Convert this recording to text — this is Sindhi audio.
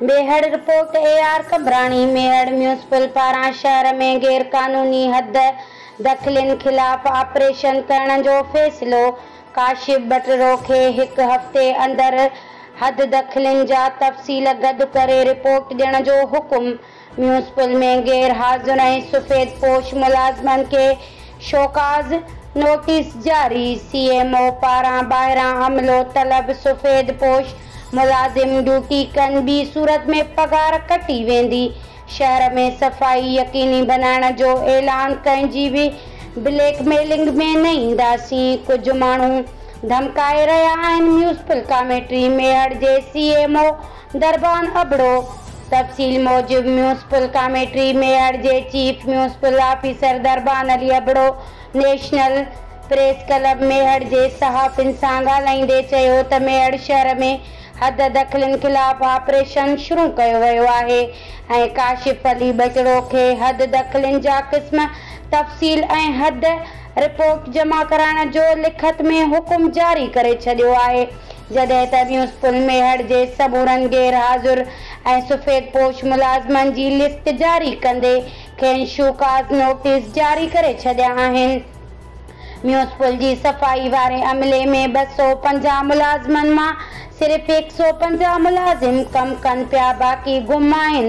Mehar, report, A R Qambrani, Mehar municipal پاران شهر ۾ غيرقانوني حد دخلين خلاف آپريشن ڪرڻ جو فيصلو، ڪاشف ٻٽرو کي هڪ هفتي اندر حد دخلين جا تفصيل گڏ ڪري رپورٽ ڏيڻ جو حڪم. ميونسپل ۾ غير حاضر ۽ سفيد پوش ملازمن کي شوڪاز نوٽيس جاري، سي ايم او پاران ٻاهران عملو طلب، سفيد پوش ملازم ڊيوٽي ڪن ٻي صورت ۾ پگهار ڪٽي ويندي، شهر ۾ صفائي يقيني بنائڻ جو اعلان ڪنهن جي به بليڪ ميلنگ ۾ نه اينداسين، ڪجهه ماڻهو ڌمڪائي رهيا آهن ميونسپل ڪاميٽي ميهڙ جي C M O Darban Abro, تفصيل موجب ميونسپل ڪاميٽري ميئڙ جي chief municipal officer Darban Ali Abro national press club Mehar جي صحافين سان ڳالهائيندي چيو ته ميهڙ شهر ۾ حد دخلين خلاف آپريشن شروع ڪيو ويو آهي ۽ ڪاشف علي ٻچڙو کي حد دخلين جا قسم تفصيل ۽ حد رپورٽ جمع ڪرائڻ جو لکت ۾ حڪم جاري ڪري ڇڏيو آهي. جڏهن ته ٻيون اسڪول ميهڙ جي سمورن غير حاضر ۽ سفيد پوش ملازمن جي لسٽ جاري ڪندي کين شو ڪاز نوٽيس جاري ڪري ڇڏيا آهن. ٻيون اسڪول جي صفائي واري عملي ۾ ٻه سؤ پنجاهه ملازمن مان صرف هڪ سؤ پنجاهه ملازم ڪم ڪن پيا باقي گم آهن